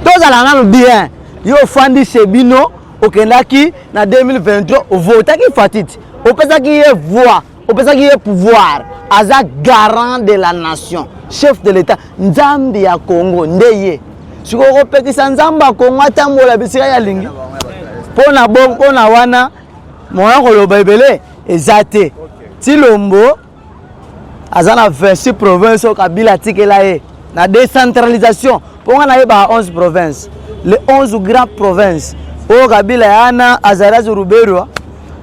tozala nanu bien yo ofandi chez bino okendaki na 2023 ovotaki fatiti opesaki ye voix opesaki ye pouvoir aza garant de la nation chef de l'état nzambe ya congo nde ye sikoyo okopekisa nzambe ya congo atambola bisika ye alingi mpo na bongo mpo na wana moya koloba ebele eza te tilombo aza na 26 province oyo kabila atikela ye na décentralisation mpo nga nayebaka 11 province le 11 grand province oyo kabila yana azaraz ruberwa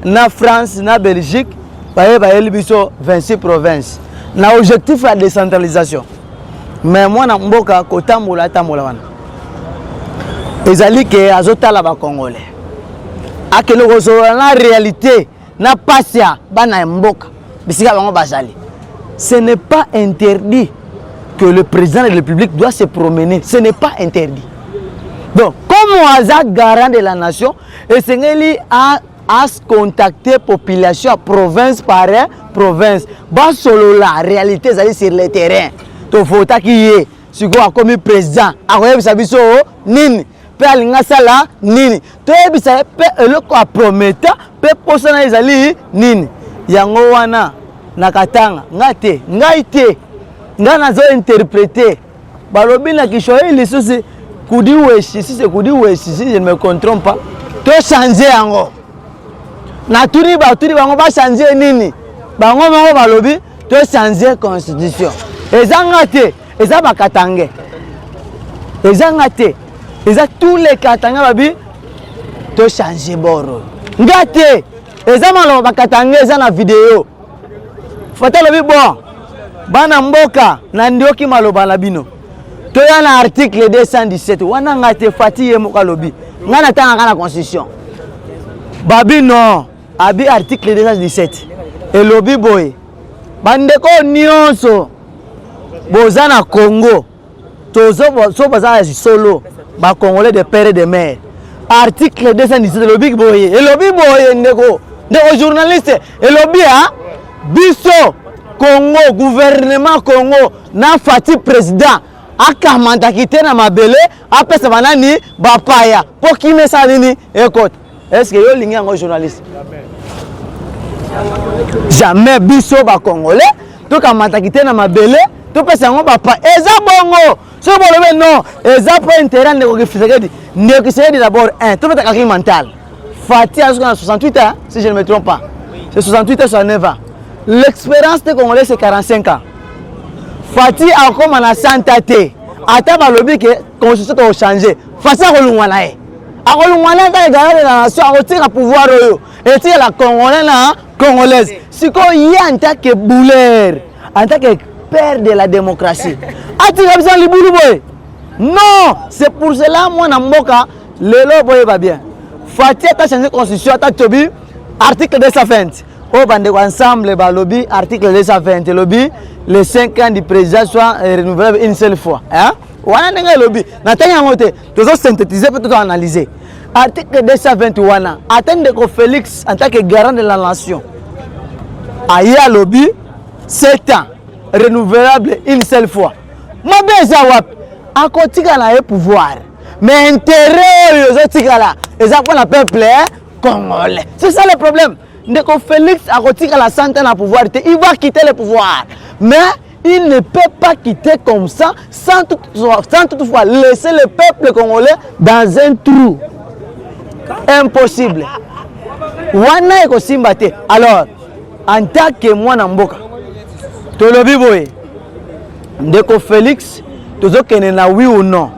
na france na belgique baye bayeli biso 26 province na objectif ya décentralisation me mwana mboka kotambola atambola wana ezali ke azotala bacongolais akende kozolola na réalité na pasi ya bana ya mboka bisika bango bazali ce n'est pas interdit que le président de la république doit se promener ce n'est pas interdit donc comme aza garant de la nation esengeli a as contacter population ya province par province basolola réalité ezali sur le terrain tovotaki ye sikoyo akomi président akoyebisa biso nini mpe alingi asala nini toyebisa ye mpe eloko aprometa mpe mposa na ye ezali nini yango wana na katanga ngai te ngai te ngai nazo interprete balobi na kiswahili susi kudiweshi sise kudiweshi si je ne me contrompe pas tochange yango natuni batuni bango bachange nini bango moko balobi tochange constitution ezanga te eza ba katangais eza nga te eza tous les katangais babi to change boro nga te eza maloba ba katangais eza na video fata lobi bon bana mboka na ndioki maloba na bino toya na article 217 wana nga te fati ye moko alobi nga natangaka na constitution babi non Abi article 217 elobi boye bandeko nyonso boza na Congo tozo so baza ya solo ba congolais de père et de mère article 217 elobi boye elobi boye ndeko ndeko journaliste elobi ya biso Congo gouvernement Congo na Fatih président akamandaki te na mabele apesa banani bapaya mpo kimesala nini ekota est ce que yo olingi yango journaliste jamais biso bacongolais tokamataki te na mabele topesa yango bapa eza bongo soki bolobi non eza mpo intérêt ndeko kifisekedi ndeko kisekedi d'abord un tobetaka ki mental fati azoka na 68 ans si je ne me trompe pas c'est 68 ans 69 ans l'expérience te congolais c'est 45 ans fati akoma na santa te ata balobi ke constitution tokochange fati akolungwa na ye akolongwa na kaka egala de la nation akotika pouvoir oyo etikela congolais na congolaise sikoyo ye en tant que bouler en tant que père de la démocratie atika biso na libulu boye non c'est pour cela mwana mboka lelo boyeba bien fati ata change constitution ata tobi article 220 oyo bandeko ensemble balobi article 220 elobi le 5 ans du président soit renouvelable une seule fois hein? wana ndenge elobi natangi yango te tozo synthétiser mpe tozo analyser article 220 wana ata ndeko félix en tant que garant de la nation aye alobi sept ans renouvelable une seule fois mabe eza wapi akotikala ye pouvoir mais intérêt oyo ezotikala eza mpo na peuple eh, congolais c'est ça le problème ndeko félix akotikala santa na pouvoir te il va quitter le pouvoir mais Il ne peut pas quitter comme ça sans toutefois, sans toutefois laisser le peuple congolais dans un trou. Impossible. Wana ekosimba te. Alors, en tant que mwana mboka, tolobi boye, ndeko Felix, tozokende na oui ou non.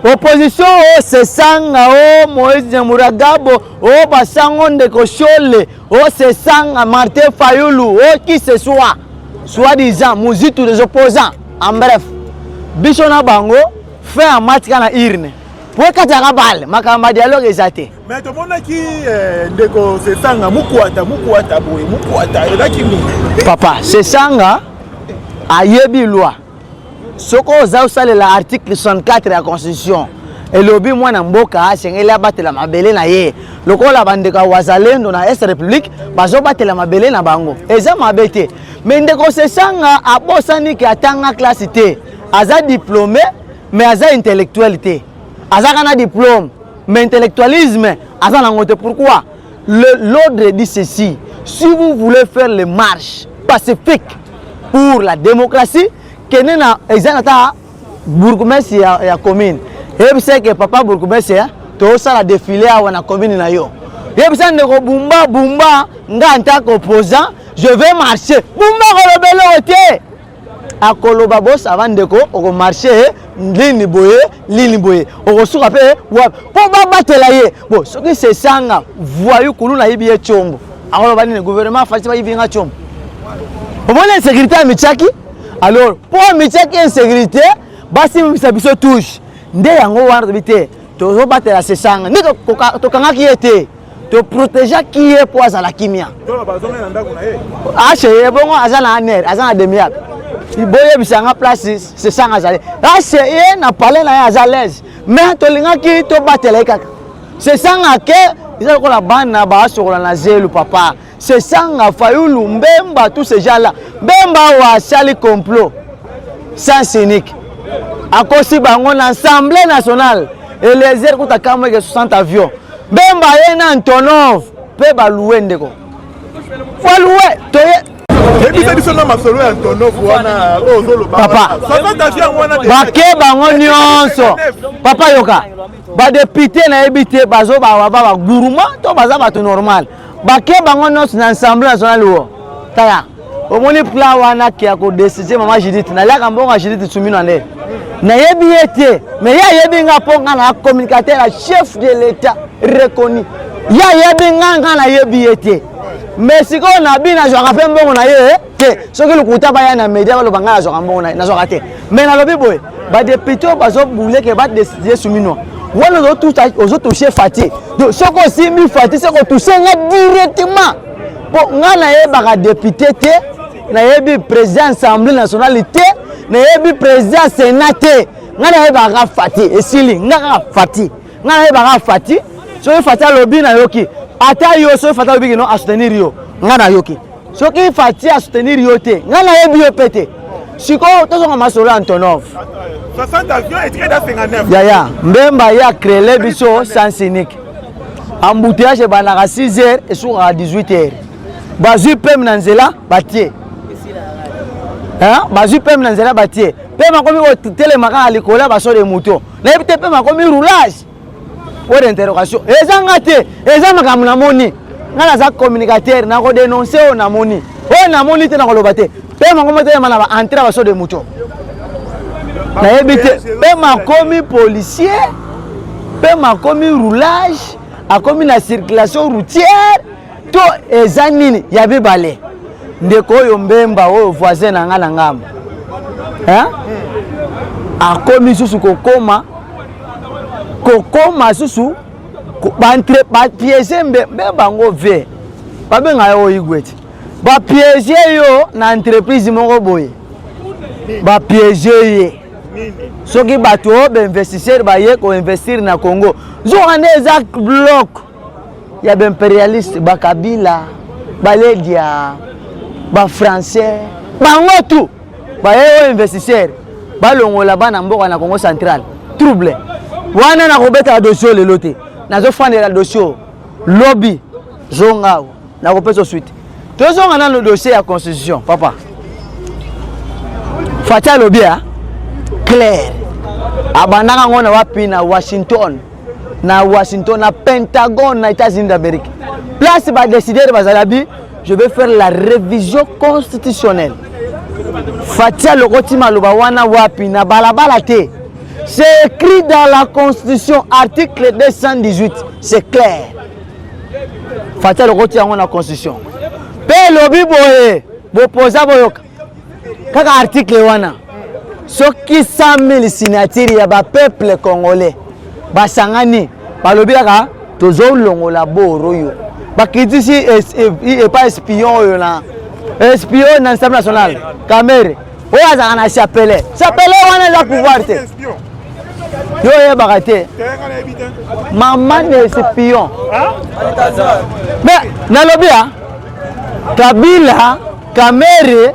Opposition o oh, sesanga o oh, Moïse Nyamuragabo o oh, basango ndeko Shole Oh c'est ça Martin Fayulu, oh qui ce soit, soit disant muzitu des opposants. En bref, biso na bango fait en match kana irne. po ekataka bale makambo ya dialogue eza te me tomonaki eh, ndeko sesanga mukwata mukwata boye mukwata elaki nini papa sesanga ayebi loi soki oza osalela article 64 ya constitution elobi mwana mboka asengeli abatela mabele na ye lokola bandeko ya wazalendo na est république bazobatela mabele na bango eza mabe te me ndeko sesanga abosani ke atanga klase te aza diplome me aza intellectuel te azaka na diplome me intellectualisme aza nango te pourquoi L'ordre dit ceci, si vous voulez faire les marches pacifiques pour la démocratie, kende na example ata bourgmestre ya, ya commune yebisa ke papa bourgmestre hein, tosala défilé awa na commune na yo yebisa ndeko bumba bumba nga ntako opposant je vais marcher bumba kolobela oyo te akoloba bo sava ndeko okomarche eh, lini boye lini boye okosuka mpe eh, wapi mpo babatela ye bo soki sesanga voyu kulu nayibi ye combo akoloba nini gouvernement afalisi bayibi nga combo omoni insécurité ya mityaki alors mpo mityaki insécurité basimbisa biso touche nde yango wana tobi te tozobatela sesanga nde tokangaki ye te to protegeaki ye mpo azala kimia aseye bongo aza na aner aza na demiabe boyebisa nga place sesanga azali aseye na pale na ye aza lese mais tolingaki tobatela ye kaka sesanga ke eza lokola bana baasokola na zelu papa C'est Sanga, Fayulu, Mbemba, tous ces gens-là. Mbemba wa sali complot. Sens unique. Akosi bango na Assemblée nationale. Et les airs kuta kamwe ke 60 avions. Mbemba ye na Antonov. Pe ba louer ndeko. Wa louer. Toye. Ebisa biso na masolo ya Antonov wana oyo ozoloba. Papa. Sasa kasi yango wana. Bake bango nyonso. Papa yoka. Ba député na yebi te bazo ba ba ba gourmand to baza bato normal. bake bango nyonso na ensemble national wo tala omoni pla wana ke ya kodeside mama judith naliaka mbongo ya judith sumino nde nayebi ye te me ye ayebi nga mpo nga na communicateur ya chef de l'état reconnu ye ayebi nga nga nayebi ye te me sikoyo nabi nazwaka mpe mbongo na ye eh? te soki lokuta baya na media baloba ngai nazwaka mbongo nazwaka te mais nalobi boye badepute oyo bazobuleke badeside suminwa wana ozotouche fati donc soki osimbi fati se kotouche nga directement mpo ngai nayebaka depute te nayebi président assemblée nationale te nayebi président sénat te ngai nayebaka fati esili nga kaka fati Nga na yeba ka Fati, soki Fati alobi na yoki. Ata yo soki Fati alobi kino a soutenir yo, nga na yoki. Soki Fati a soutenir yo te, nga na yebi yo pete. Sikoyo tozonga masolo Antonov. 60 avions et 59. Yaya, Mbemba ya créer biso sans unique. Embouteillage ebandaka 6 heures et sukaka 18 heures. Bazui pem na nzela batie. Hein? Bazui pem na nzela batie. Pem akomi kotelema kaka likolo ya baso de moto. nayebi te mpe makomi roulage po de interrogation eza nga te eza makambo namoni ngai naza communicateur nakodenonse oyo namoni oyo namoni te nakoloba te mpe makomi etelema na baentre ya baso de moto nayebi te mpe makomi policier mpe makomi roulage akomi na circulation routière to eza nini ya mibale ndeko oyo mbemba oyo voisin na nga na ngambo akomi susu kokoma kokoma susu bapiege mbe bango vie babenga yo oyigwe ti bapiege yo na entreprise moko boye bapiege ye soki bato oyo bainvestisseur baye koinvestir na congo zoka nde eza bloke ya ba imperialiste ba kabila ba ledia ba français bango tout baye oyo investisseur balongola bana mboka na congo central trouble wana nakobetaka dosio lelo te nazofandela dosio lobi zonga nakopesa suite tozonga nano dossier ya constitution papa fati alobi ya claire abandaka ngo na wapi na washington na Washington, na Pentagone, na États-Unis d'Amérique. Place ba décideurs bazalabi, je vais faire la révision constitutionnelle. Fatia Lokoti Maloba wana wapi na balabala te. C'est écrit dans la constitution article 218, c'est clair. Fatia Lokoti yango na constitution. Pe lobi boye, bopoza boyoka. kaka article wana soki 100.000 signature ya bapeuple congolais basangani balobi kaka tozolongola boro oyo bakritisi epa espion oyo na espion na nsami national kamere oyo azalaka na chapele chapele wana eza pouvoir te yo oyebaka te mama na espion me nalobi a kabila Kamere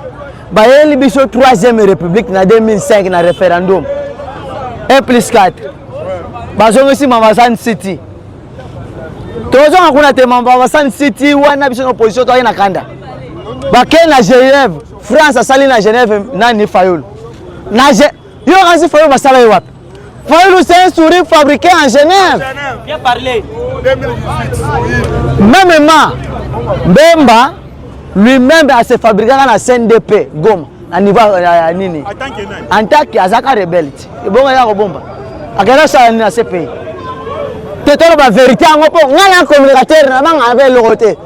bayeli biso 3e république na 2005 na référendum 1 plus 4 bazongisi mamasan city tozonga kuna te mamasan city wana biso na opposition toyaki na kanda bakei na genève france asali na genève nani fayulu Yo kasi Fayulu basala yo wapi? Fayulu c'est un sourire fabriqué en Genève. Bien parlé. Même ma Bemba lui-même a se fabriqué na CNDP Goma na niveau ya nini? En tant que azaka rebelle. Ebonga ya kobomba. Akenda sala nini na CPI? Te tolo ba vérité yango po ngana communicateur na banga abe lokote.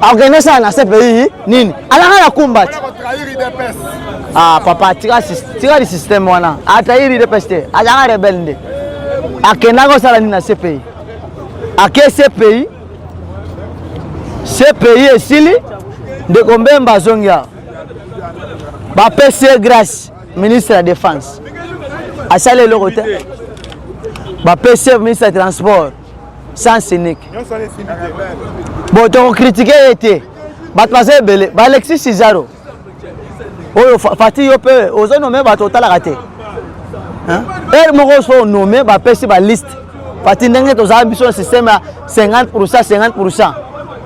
Organise ça na CPI nini? Alaka na combat. Ah papa tika tika le système wana. Atayiri de peste. Alaka rebelle nde. Akenda ko sala nini na CPI? Ake CPI. CPI esili ndeko Mbemba azongi awa. Bapesi ye grâce ministre ya défense. Asali eloko te. Bapesi ye ministre ya transport. sans cynique bon tokokritike ye te bato baza ebele baalexis sizaro oyo fati yo mpe ozo nome bato otalaka te heure moko so nome bapesi baliste fati ndenge tozala biso na systeme ya 50 pourcent 50 pourcent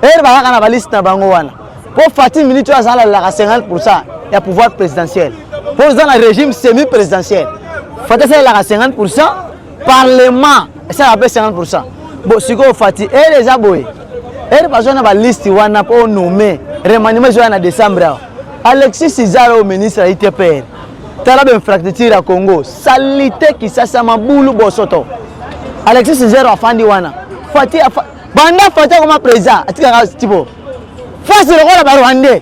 heure bayaka na baliste na bango wana mpo fati minute oyo azalalelaka 50 pourcent ya pouvoir présidentiel mpo oza na régime semi présidentiel fati asalelaka 50 pourcent parlement esalaka mpe 50 pourcent bo sikoyo fati ere eza boye ere bazwa na baliste wana mpo onome remaniement ezoya na décembre awa alexis izara oyo ministre ya itpr tala bainfrastructure ya congo salite kisasa mabulu bosoto alexis zero afandi wana fati afa... banda fati akoma président atikaka tipo fasi lokola barwandais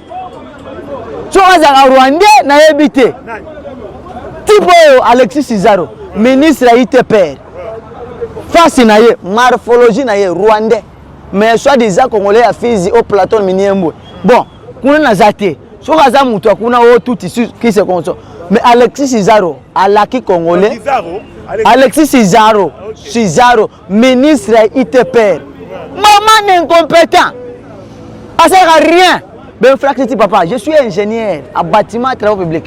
soki azalaka rwandais nayebi te tipe oyo alexis sizaro ministre ya itpr fasi na ye morphologie na ye rwandais mais soit disant congolais ya fizi o platon miniembwe bon kuna naza te soki aza moto ya kuna o tuti kise konso mais alexis sizaro alaki congolais alexis sizaro sizaro ministre ya itpr maman incompetent asalaka rien benfractiti papa je suis ingénieur a bâtiment travaux public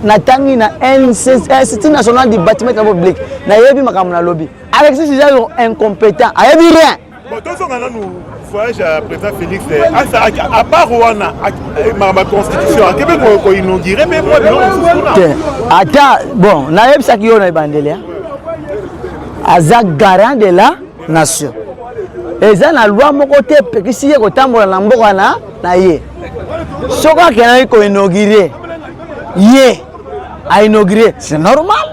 natangi na institut national du bâtiment travaux public nayebi makambo nalobi alexis eza incompétent ayebi rien voyage ya président félix asalaki eh, apart wana eh, makambo ya constitution akebe koinaugure mpe mwa biloko mosusu kuna te ata bon nayebisaki yo na ebandeli eh. aza garant de la nation eza na loi moko te epekisi ye kotambola na mboka na na ye soki akendaki koinaugure ye ainaugure c'est normal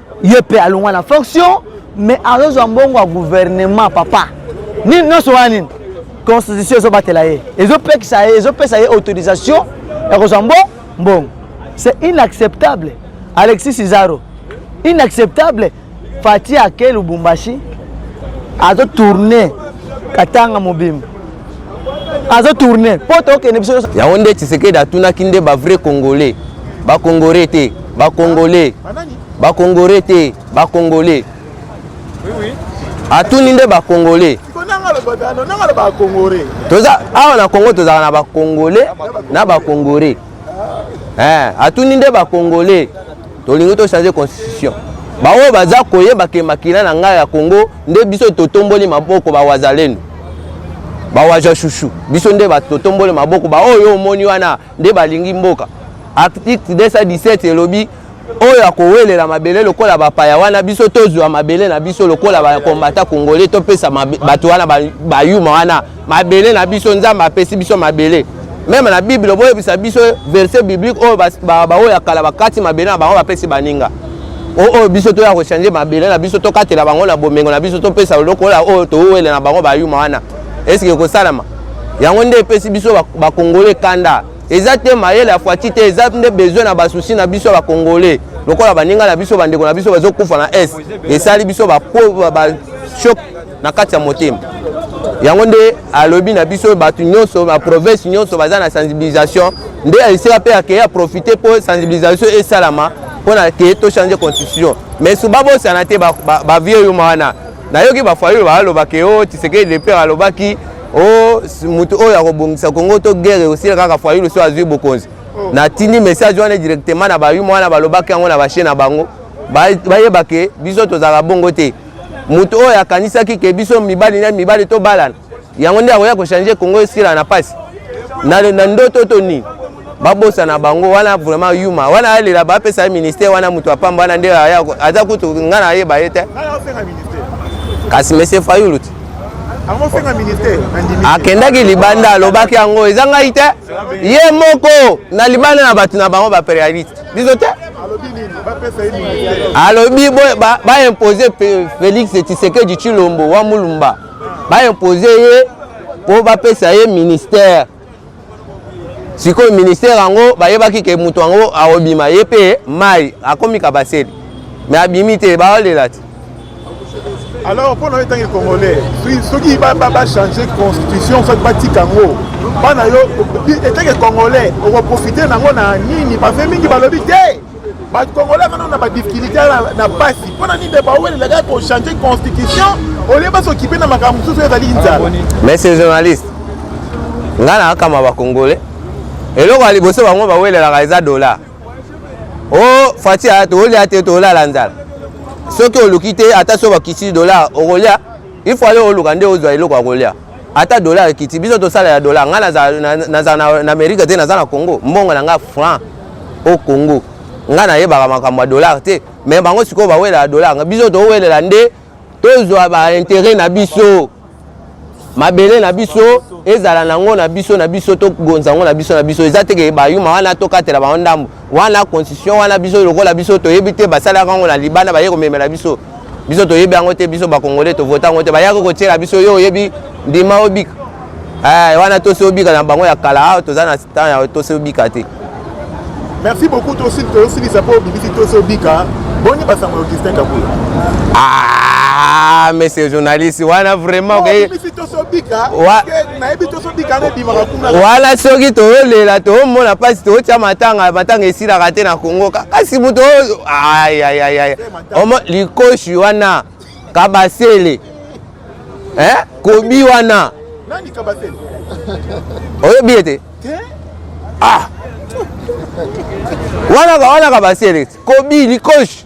ye pe alongwa na fonction mais azozwa mbongo ya gouvernement papa nini nyonso wana nini constitution ezobatela ye ezopekisa ye ezopesa ye autorisation ya kozwa mbo mbongo c'est inacceptable alexis sizaro inacceptable fati ake lubumbashi azotourne katanga mobimba azo tourne mpo tokende biso yango nde tshisekedi atunaki nde bavrai congolais bakongore te bakongole bakongore te bakongole atuni nde bakongole toza awa na congo tozalaka na bakongole na bakongore eh, atuni nde bacongolais tolingi tochange constitution baoyo baza koyeba ke makila na ngai ya congo nde biso totomboli maboko bawazalendo bawaja shushu biso nde totomboli maboko baoyo omoni wana nde balingi mboka article 217 elobi oyo akowelela mabele lokola bapaya wana biso tozwa mabele na biso lokola bakombata kongole topesa bato wana bayuma wana mabele na biso nzambe apesi biso mabele meme na bible boyebisa biso verset biblique oyo baoyo ya kala bakati mabele na bango bapesi baninga oyo biso toya kochange mabele na biso tokatela bango na bomengo na biso topesa lokola oyo towele na bango bayuma wana esike ekosalama yango nde epesi biso bakongole kanda eza te mayele ya fwati te eza nde besoin na basusi na biso ya bacongolais lokola baninga na biso bandeko na biso bazokufa na est esali biso bashok na kati ya motema yango nde alobi na biso bato nyonso baprovince nyonso baza na sensibilisation nde esika mpe akei aprofite mpo sensibilisation esalama mpo na kei tochange constitution mais su babosana te bavie yuma wana nayoki bafayulu baalobaka yo tisekedi lepere alobaki Oh, mutu oyo akobongisa Congo to guerre osila kaka Fayulu so azui bokonzi. Oh. Na tindi message wana directement na bayuma wana balobaki yango na bashe na bango. Bayeba ke biso tozala bongo te. Mutu oyo akanisaki ke biso mibali na mibali to balana. Yango nde akoya ko changer Congo esila na pasi. Na, na ndoto to nini? babosa na bango wana vraiment yuma wana alela bapesa ye ministère wana moto apamba wana nde aza kutu ngai nayeba ye te kasi monsieur fayulu te akendaki libanda alobaki yango eza ngai te ye moko na libanda na bato na bango baperialiste biso te alobi baimpose félix tshisekedi tshilombo wa mulumba baimpose ye mpo bapesa ye ministère sikoyo ministère yango bayebaki ke moto yango akobima ye mpe mai akomi kabasele me abimi te baolela te alors mpo na yo etangi congolais soki bachange constitution soki batika yango bana yo etangi congolais okoprofite nango na nini bafe mingi balobi te bato congolais kano na badifficulté na mpasi mpo na nini nde bawelela kaka kochange constitution olie basokipe na makambo mosusu ezali nzala monsieur journaliste ngai nakakama bacongolais eloko ya liboso bango bawelelaka eza dola o oh, fati aya toolya te toolala nzala soki oluki te ata so bakisi dola okolya ifo ale oluka nde ozwa eloko ya kolya ata dollar ekiti biso tosala ya dollar ngai naza na amerika te naza na congo mbongo na ngai franc o congo ngai nayebaka makambo ya dollar te me bango sikoyo bawelaka dollar biso towelela nde tozwa baintere na biso mabele na biso ezala nango na biso na biso tokonza yango na biso na biso eza teke bayuma wana tokatela bango ndambo wana constitution wana biso lokola biso toyebi te basalaka yango na libanda baye komemela biso biso toyebi yango te biso bakongole tovota yango te bayaki kotyela biso yo oyebi ndima obika eh, wana tosi obika na bango ya kala awa ah, toza na temps ya tosi obika te merci beaucoup tosilisa mpo obibisi tosi obika boni basango ya augustin kabula ah, monsieur journaliste wana vraiment oh, okay. wana soki toyolela tomona mpasi totya matanga matanga esilaka te na kongo kasi moto ayayaya likoshi wana kabasele eh? kobi wana oyebi ete ah. wana wana kabasele kobi likoshi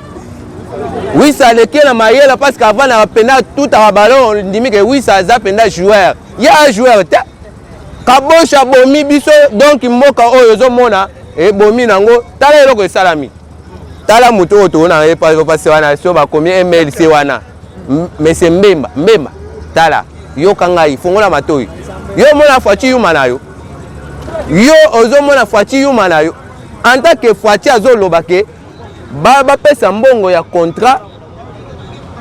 wisa aleki na mayele parce que avant na penda tout à ballon ndimi ke wisa aza penda joueur ya joueur te kabosh abomi biso donc mboka oyo ozomona ebomi nango tala eloko esalami tala moto oyo toona ye pasi wana so bakomi mlc wana mese mbemba mbemba tala yoka ngai fongola matoi yo omona fwaci yuma na yo yo ozomona fwaci yuma na yo en tant que fwaci azoloba ke ba bapesa mbongo ya contrat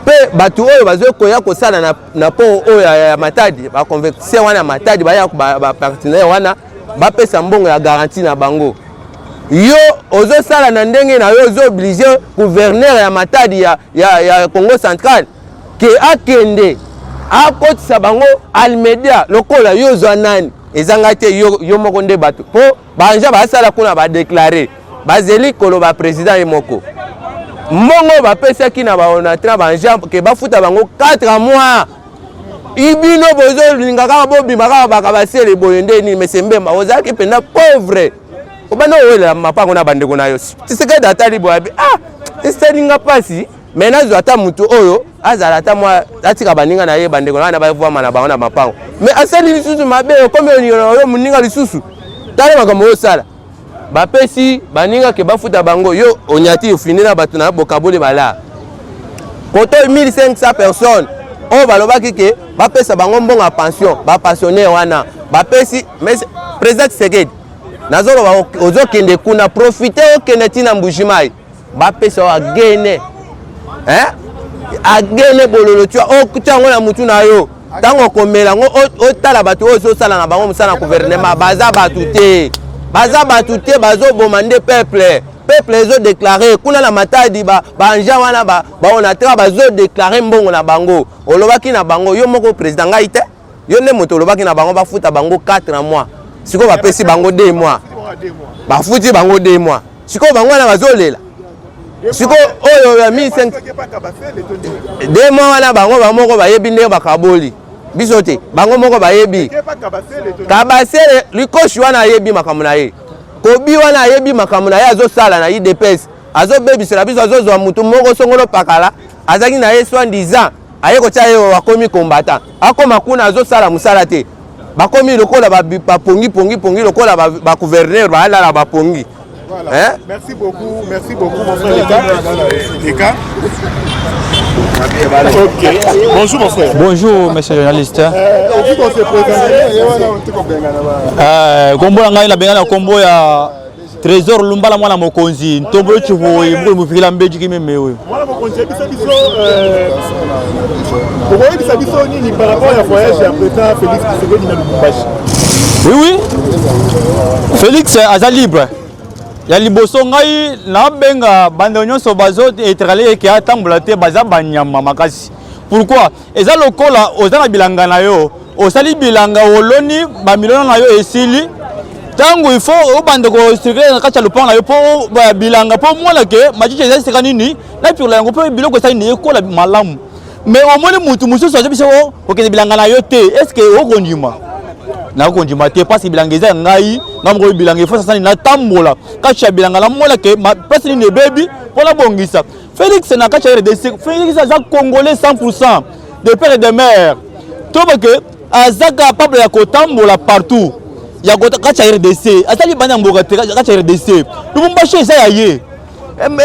mpe bato oyo bazwi koya kosala na, na port oyo ya, ya matadi baconvecticien wana ya matadi baya bapartenaire ba wana bapesa mbongo ya garantie na bango yo ozosala na ndenge na yo ozo oblige gouverneur ya matadi ya, ya, ya congo central ke akende akotisa bango almedia lokola yo ozwa nani ezanga te yo, yo moko nde bato mpo Banja basala kuna ba declarer bazeli koloba president ye moko mbongo bapesaki na baonatra banja ke bafuta bango 4 mois ibino bozolinga kaka bobima kaka baka basele boye nde nini mese mbemba ozalaki mpenza pauvre obanda owelela mapango na bandeko na yo tisekedi atali boye abi ah esalinga mpasi me nazwa ata motu oyo azala ata mwa atika baninga na ye bandeko na wana bavwama na bango na mapango me asali lisusu mabe okomi oniola oyo moninga lisusu tala makambo oyosala bapesi baninga ke bafuta bango yo onyati ofini na bato na bokaboli balaa koto 1500 personnes oyo balobaki ke bapesa bango mbongo ya pension bapensionnaire wana bapesi président tshisekedi nazoloba ozokende kuna profite okende ntina mbujimai bapesa wa gene eh? agene bololo tua otya yango na mutu na yo ntango okomela yango otala bato oyo ozosala na bango mosala na guvernema baza bato te baza bato te bazoboma nde peuple peuple ezodeklare kuna na matadi baanja wana baonatra bazodeklare mbongo na bango olobaki na bango yo moko président ngai te yo nde moto olobaki na bango bafuta bango 4 mois sikoyo bapesi bango 2 mois bafuti bango 2 mois sikoyo bango wana bazolela sikoyo oyo ya 1500 2 mois wana bango bamoko bayebi ndenge bakaboli biso te bango moko bayebi kabasele likoshi wana ayebi makambo na ye kobi wana ayebi makambo na ye azosala na idps azobebisela biso azozwa motu moko songolo pakala azalaki na ye 70 ans aye kotia ye akomi combattant akoma kuna azosala mosala te bakomi lokola bapongi pongi pongi lokola bagouverneur baalala bapongi Voilà. Hein? Merci beaucoup, merci beaucoup, mon frère Leka. Leka. Okay. Bonjour mon frère. Bonjour monsieur journaliste. Euh, euh, kombo na ngai nabengana kombo ya Trésor Lumbala mwana mokonzi ntombo yo chivoye mukulu mufikila mbeji kimeme oyo mwana mokonzi yebisa biso euh, okoyebisa biso nini par rapport ya voyage ya président Félix Tshisekedi na Lubumbashi Oui oui Félix euh, aza libre ya liboso ngai nabenga banda nyonso bazo etrale eke atambola te baza banyama makasi pourquoi Eza lokola oza na bilanga na yo, osali bilanga oloni ba milona na yo esili tango il faut obanda ko circuler na kati ya lopango na yo po bilanga po mona ke machicha eza esika nini na pirola yango po biloko esali nini ekola malamu mais omoni mutu mosusu azo biso oh, okende bilanga na yo te est ce que okondima nakondima te parce que bilanga eza ya ngai nga mokolo bilanga efo sasani natambola kati ya bilanga namona ke place nini ebebi mpo nabongisa Felix na kati ya RDC, Felix aza congolais 100% de père et de mère. To ba que aza capable ya kotambola partout. Ya kati ya RDC, asali bana mboka te kati ya RDC. Lubumbashi eza ya ye.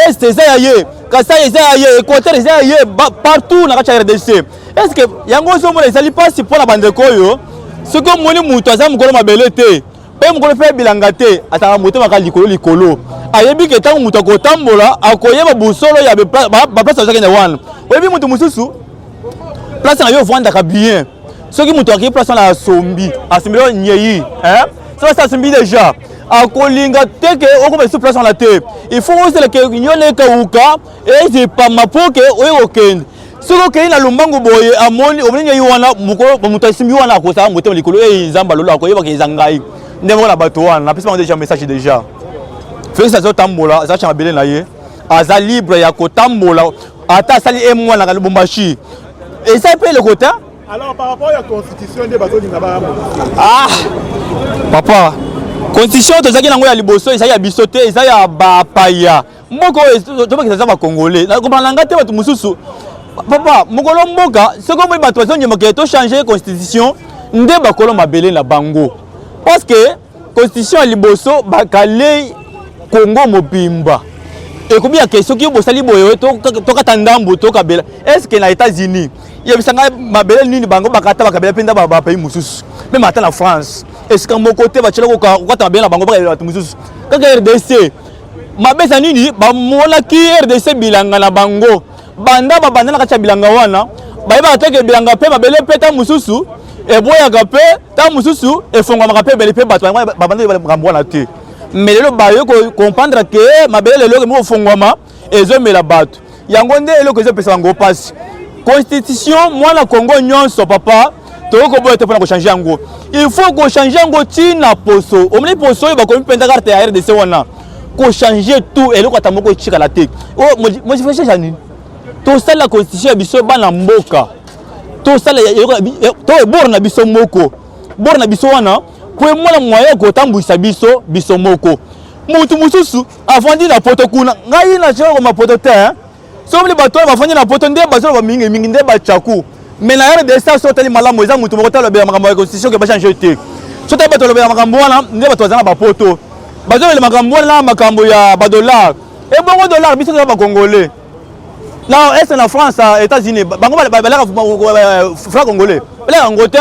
Est eza ya ye. Kasai eza ya ye, Equateur eza ya ye partout na kati ya RDC. Est-ce que yango ozomona ezali pasi mpo na bandeko oyo soki omoni moto aza mokolo mabele te mpe mokolo mpe bilanga te ataka motema kaka likolo likolo ayebi ke ntango moto akotambola akoyeba bosolo ya baplace azakende wana oyebi moto mosusu place na yo ovandaka bien soki moto akei place wana asombi asombi yo nyei soki asi asombi deja akolinga te ke okoma lisusu place wana te il faut ozela ke nyoneka uka eze pamba mpo ke oye kokende soki okei na lombango boye amoni omoni ngai wana mokolo moto asimbi wana akosaka motema likolo e nzambe alola akoyebaka eza ngai nde moko na bato wana napesi bango deja message deja felix azotambola aza cha mabele na ye aza libre ya kotambola ata asali e mwana ka lubumbashi eza mpe eloko te alors par rapport ya constitution nde bazolinga ba ah papa constitution tozalaki nango ya liboso ezali ya biso te eza ya bapaya Mboka oyo tobakisa eza ba Congolais. Na comprendre nga te bato mosusu. Papa, mokolo mboka, soki omoni bato bazongema ke to changer constitution nde bakolo mabele na bango. Parce que constitution ya liboso bakalei Congo mobimba. ekomi ya ke soki bosali boye tokata ndambu tokabela estce na états-unis yebisa ngai mabele nini bango bakata bakabela mpenza bapays mosusu meme ata na france esika moko te batyela kokata mabele na bango bakabela bato mosusu kaka rdc mabesa nini bamonaki rdc bilanga na bango banda babanda na kati ya bilanga wana bayebaka te ke bilanga mpe mabele mpe ntango mosusu eboyaka mpe ntango mosusu efongwamaka mpe ebele mpe bato babanda makambo wana te mais lelo baye comprendre ke mabele lelo okomi kofongwama ezomela bato yango nde eloko ezopesa bango mpasi constitution mwana congo nyonso papa tokoki koboya te mpona kochange yango il faut kochange yango ntina poso omoni poso oyo bakomi mpenza karte ya rdc wana kochange tout eloko ata moko etikala te modification ya nini tosalela constitution ya biso bana mboka tosala to ebor na biso moko bor na biso wana mpo emona mwaye kotambwisa biso biso moko motu mosusu avandi na poto kuna ngai nazoyoko mapoto te hein. soki bato oyo bafandi na poto nde bazoloba mingi mingi nde bacaku mais na rdc soki otali malamu eza moto moko talobela makambo ya constitution ke bachange te soki otali bato balobela makambo wana nde bato baza na bapoto bazolobela makambo wana na makambo ya badollar ebongo dollar biso toza bacongolais na est na france états-unis bango balaka franc congolais balaka yango te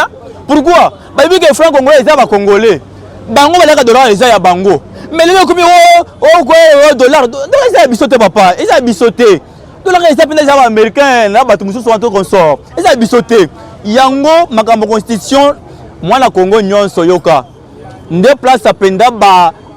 pourquoi bayebi ke franc congolais eza bacongolais bango balaka dollar eza ya bango mais lelo ekomi oh, oh, oh, dollar dollar eza ya biso te papa eza ya biso te dollar eza mpenza eza baaméricain na bato mosusu wana to consort eza ya biso te yango makambo constitution mwana congo nyonso yoka nde place mpenza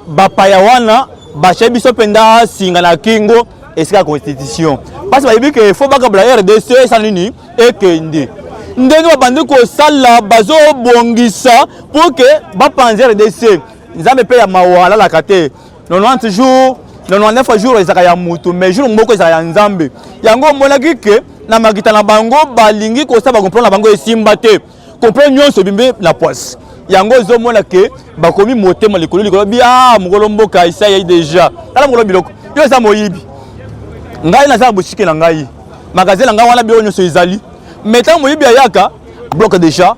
bapaya wana bashaye biso mpenza singa na kingo esika ya constitution mpasi bayebi ke fo bakabla rdc esala nini ekende ndenge babandi kosala bazobongisa mpo ke bapanzi rdc nzambe mpe ya mawa alalaka te 90 jours 99 jours ezalaka ya motu mais jour moko ezalaka ya nzambe yango omonaki ke na makita na bango balingi kosala bakomplana na bango esimba te Complet nyonso ebimbe na poisse. Yango ezomona ke bakomi motema likolo likolo bi ah mokolo mboka isa yai deja. Tala mokolo biloko. Yo eza moyibi. Ngai naza na boutique na ngai. Magasin na ngai wana biloko nyonso ezali. Mais tango moyibi ayaka bloque deja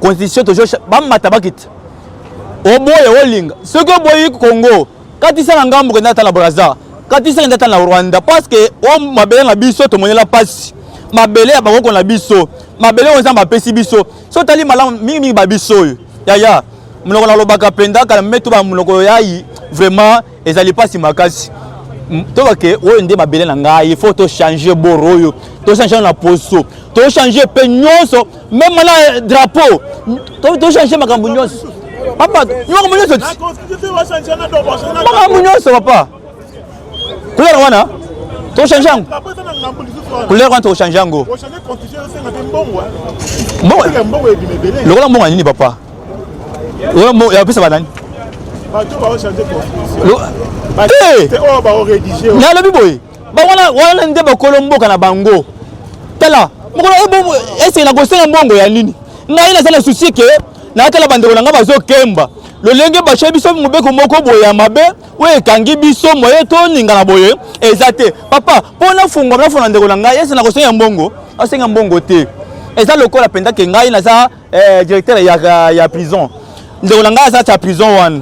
constitution toujours bamata bakita oboye olinga soki oboyi Congo Katisa na ngambo kenda ata na Brazza. Katisa kenda ata na Rwanda parce que o mabele na biso tomonela pasi. Mabele ya bakoko na biso. Mabele oyo Nzambe apesi biso. So otali malamu mingi mingi ba biso oyo. Yaya, monoko nalobaka mpenza kala metu ba monoko yayi vraiment ezali pasi makasi. Toka ke oyo nde mabele na ngai, il faut to changer boro oyo. To changer na poso. To changer pe nyonso Même maintenant, euh, drapeau, tu dois changer ma cambouignos. Papa, tu vas cambouignos. Ma cambouignos, papa. Couleur wana, tu changes en. Couleur wana, tu changes en go. Mbongo, lokola mbongo nini papa? Lokola mbongo, ya pesa banani? Bato ba changer constitution. Te, te oyo ba rédiger. Na lobi boye. bawana wana nde bakolo mboka na bango tala mokolo eh, ese nakosenga mbongo ya nini ngai naza na susi ke natala bandeko na ngai bazokemba lolenge bashe biso mobeko moko boye ya mabe oyo ekangi biso moye toningana boye eza te papa mpo nafungwa nafona ndeko na ngai ese nakosenga mbongo asenga mbongo te eza lokola mpenza ke ngai naza eh, directeur ya, ya prison ndeko na ngai azalaki ya prison wana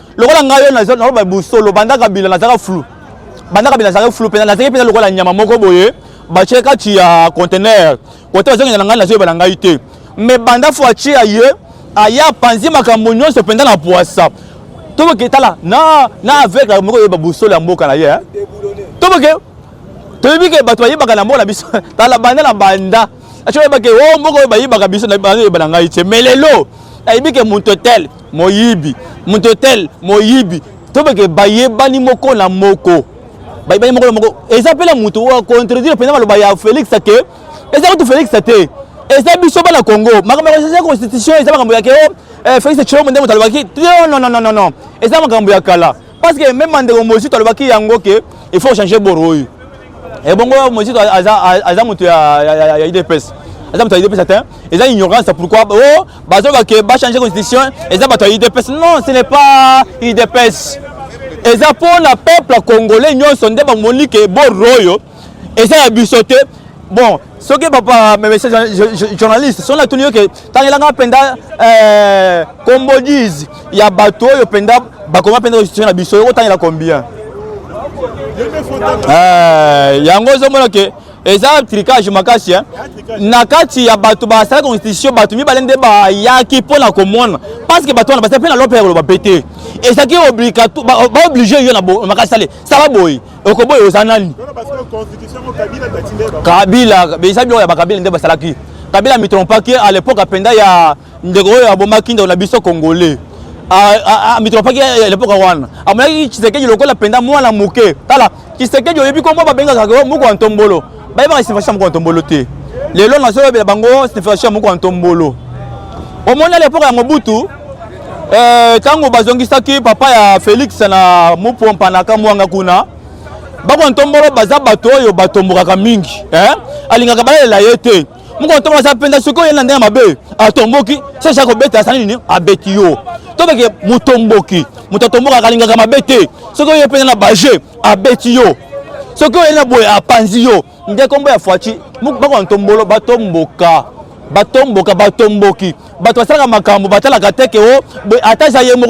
lokola ngai yo naloba bosolo banda kabila nazalaka flou banda kabila nazalaki flou mpenza nazalaki mpenza lokola nyama moko boye batye kati ya contener kote bazongenda na ngai nazoyebana ngai te me banda fo atye ya ye aya apanzi makambo nyonso mpenza na pwasa toboke tala na na aveugle moko oyeba bosolo ya mboka na ye toboke toyebi ke bato bayebaka na mboka na biso tala banda na banda aco oyeba ke o oh, mboka oyo bayibaka biso nayoyeba na ngai te mais lelo nayebi ke moto tel moyibi moto tel moyibi tobeke bayebani moko na moko bayebani moko na moko eza mpe na moto oyo acontredire mpenza maloba ya félix ke eza kutu félix te eza biso bana congo makambo ya constitution eza makambo ya ke o oh, eh, félix tshilombo nde moto alobaki non non non non eza makambo ya kala parce que même bandeko mozito alobaki yango ke il faut changer boro oyo ebongo eh, mozito aza moto ya idps aza moto ya idps atin eza ignorance pourquoi o oh, bazoka ke bachange constitution eza bato ya idps non ce n'est pas idps eza mpo na peuple congolais nyonso nde bamoni ke boro oyo eza ya biso te bon soki papa mese journaliste soki natuni yo ke tangelanga mpenza eh, combodise ya bato oyo mpenza bakoma mpenza constitution na biso okotangela combien eh, yango ozomona ke eza tricage makasi eh? na kati ya bato basala constitution bato mibale nde bayaki mpo na komona parce que bato wana bazali mpe na lope ya koloba mpe te ezalaki baoblige yo na makasi sale sala boye okoboya oza nani kabila eza biloko ya bakabila nde basalaki kabila mitrompaki à l'époque apenda ya ndeko oyo abomaki ndeko na biso congolais mitrompaki ya l'époque wana amonaki tshisekedi lokola apenda mwana moke tala tshisekedi oyebi kombo babengaka moko ya ntombolo bayebaka signification moko ya ntombolo te lelo nazoyebela bango signification moko ya ntombolo omoni à l'époque ya mobutu ntango eh, bazongisaki papa ya felix na mopompa na kamwanga kuna bakona ntombolo baza bato oyo batombokaka mingi eh? alingaka balalela ye te mokona ntombolo aza mpenza soki oye na ndenge mabe atomboki sesha kobeta asali nini abeti yo tobeke motomboki moto atombokaka alingaka mabe te soki oye mpenza na baje abeti yo soki oye na boye apanzi yo nde kombo ya fuaci bakona ntombolo batomboka batomboka batomboki bato basalaka makambo batalaka te ke o oh, ata eza ye moko